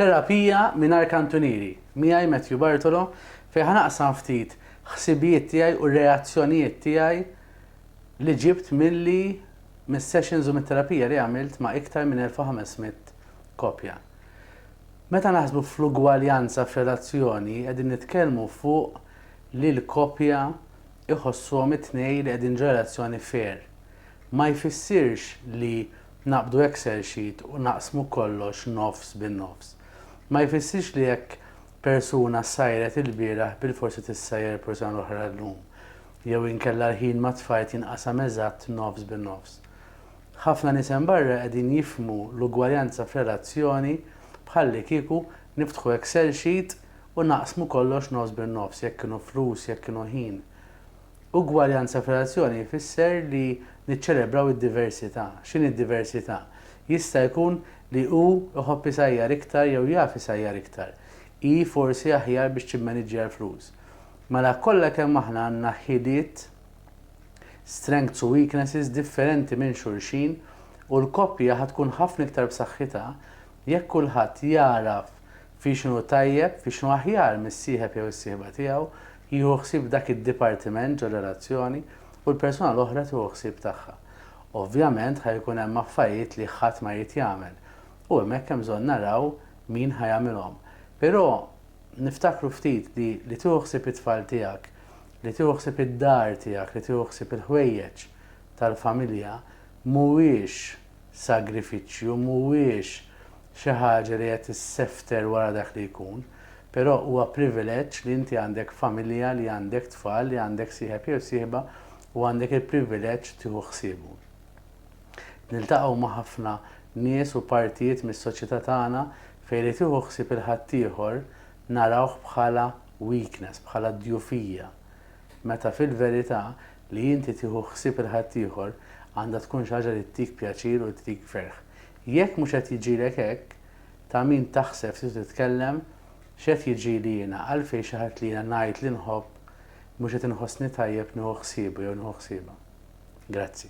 Terapija mingħajr kantunieri, miegħi Matthew Bartolo, fejn ħa naqsam ftit ħsibijiet tiegħi u reazzjonijiet tiegħi li ġibt milli mis-sessions u mit-terapija li għamilt ma' iktar minn 1,500 koppja. Meta naħsbu fl-ugwaljanza f'relazzjoni qegħdin nitkellmu fuq li l-koppja iħossuhom it-tnejn li qegħdin ġo relazzjoni fair. Ma jfissirx li Naqbdu excel sheet u naqsmu kollox nofs bin nofs. Ma jfissirx li jekk persuna ssajret ilbieraħ bilfors se tissajjar persuna l-oħra llum. Jew inkella l-ħin ma' tfajt jinqasam eżatt nofs bin nofs. Ħafna nies hemm barra qegħdin jifhmu l-ugwaljanza f'relazzjoni bħalli kieku niftħu excel sheet u naqsmu kollox nofs bin nofs jekk kienu flus jekk kienu ħin. Ugwaljanza f'relazzjoni jfisser li niċċelebraw id-diversità. X'inhi d-diversità? Jista' jkun li hu jħobb isajjar iktar jew jaf isajjar iktar. Hi forsi aħjar biex timmaniġġja l-flus. Mela kollha kemm aħna għandna ħiliet, strengths u weaknesses differenti minn xulxin u l-koppja ħa tkun ħafna iktar b'saħħitha jekk kulħadd jagħraf Fi x'inhu tajjeb, fi x'inhu aħjar mis-sieħeb jew is-sieħba tiegħu jieħu ħsieb dak id-dipartiment ġor-relazzjoni u l-persuna l-oħra tieħu ħsieb tagħha. Ovvjament ħa jkun hemm affarijiet li ħadd ma jrid jagħmel u hemmhekk hemm bżonn naraw min ħa jagħmilhom. Però niftakru ftit li li tieħu ħsieb it-tfal tiegħek, li tieħu ħsieb id-dar tiegħek, li tieħu ħsieb il-ħwejjeġ tal-familja mhuwiex, sagrifiċċju mhuwiex xi ħaġa li qed issefter wara dak li jkun, però huwa privileġġ li inti għandek familja, li għandek tfal, li għandek sieħeb jew sieħba u għandek il-privileġġ tieħu ħsiebu. Niltaqgħu ma' ħafna nies u partijiet mis-soċjetà tagħna fejn li tieħu ħsieb il-ħaddieħor narawh bħala weakness, bħala djufija. Meta fil-verità, li inti tieħu ħsieb il-ħaddieħor għandha tkun xi ħaġa li ttik pjaċir u ttik ferħ. Jekk mhux qed jiġilek hekk, ta' min taħseb se titkellem, X'qed jiġieli jiena, għalfejn xi ħadd li jiena ngħid li nħobb mhux qed inħossni tajjeb nieħu ħsiebu jew nieħu ħsiebha? Grazzi.